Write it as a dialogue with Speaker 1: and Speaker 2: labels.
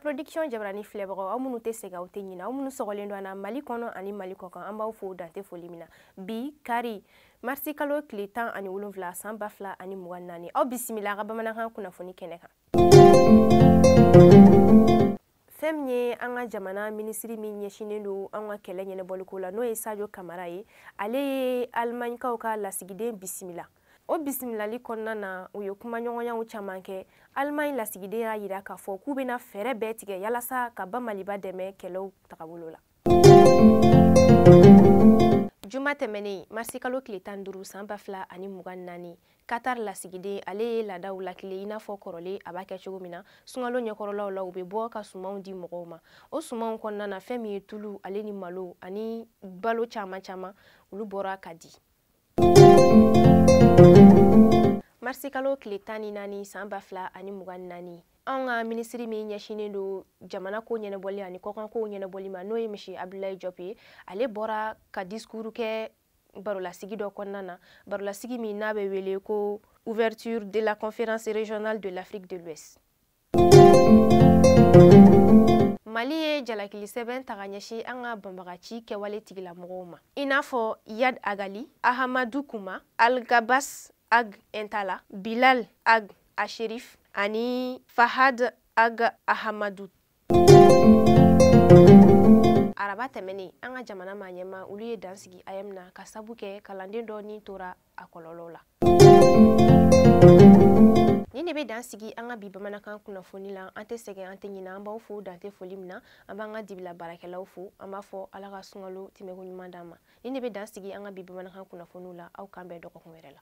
Speaker 1: production jabarani filɛbagaw aw minnu tɛ sɛgɛn aw tɛ ɲinɛ aw minnu sɔgɔlen don an na mali kɔnɔ ani mali kɔkan an b'aw fo dan tɛ foli min na bi kari marisikalo tile tan ani wolonfila san ba fila ani mugan naani aw bisimila a ka bamanankan kunnafoni kɛnɛ kan fɛn min ye an ka jamana minisiri min ɲɛsinnen don an ka kɛlɛ ɲɛnabɔliko la n'o ye sajo kamara ye ale ye alimaɲikaw ka lasigiden bisimila o bisimilali kɔnɔna na u ye kumaɲɔgɔnyaw caman kɛ alimaɲi lasigiden y'a yira k'a fɔ k'u bɛna fɛɛrɛ bɛɛ tigɛ yalasa ka ba maliba dɛmɛ kɛlɛw tagabolo la juma tɛmɛnen marisikalo tile tan duuru san ba fila ani mugan naani katar lasigiden ale ye laadaw latilen i n'a fɔ kɔrɔlen a b'a kɛ cogo min na sunkalo ɲɛkɔrɔlaw la u bɛ bɔ ka sumanw di mɔgɔw ma o sumanw kɔnɔna na fɛn min ye tulu ale ni malo ani balo caman caman olu bɔra ka di marisikalo tile tan ni naani san ba fila ani mugan ni naani anw ka minisiri min ɲɛsinnen don jamana ko ɲɛnabɔli ani kɔkankow ɲɛnabɔli ma n'o ye misi abdulayi jɔp ye ale bɔra ka discours kɛ barolasigi dɔ kɔnɔna na barolasigi min n'a bɛ wele ko ouverture de la conférence régionale de l'afrique de l'ouest mali ye jalakili sɛbɛn ta ka ɲɛsin an ka banbagaci kɛwale tigilamɔgɔw ma i n'a fɔ iyad ag ghali ahamadu kuma algabas ag intala bilal ag asherif ani fahad ag ahamadu araba tɛmɛnen an ka jamana maa ɲɛmaa olu ye dan sigi aeem na ka sabu kɛ kalanden dɔ ni tora a kɔlɔlɔw la nin de bɛ dan sigi an ka bi bamanankan kunnafoni la an tɛ sɛgɛn an tɛ ɲinɛ an b'aw fo dan tɛ foli min na an b'an ka dibila baarakɛlaw fo an b'a fɔ ala ka sunkalo tɛmɛko ɲuman d'an ma nin de bɛ dan sigi an ka bi bamanankan kunnafoniw la aw k'an bɛn dɔgɔkun wɛrɛ la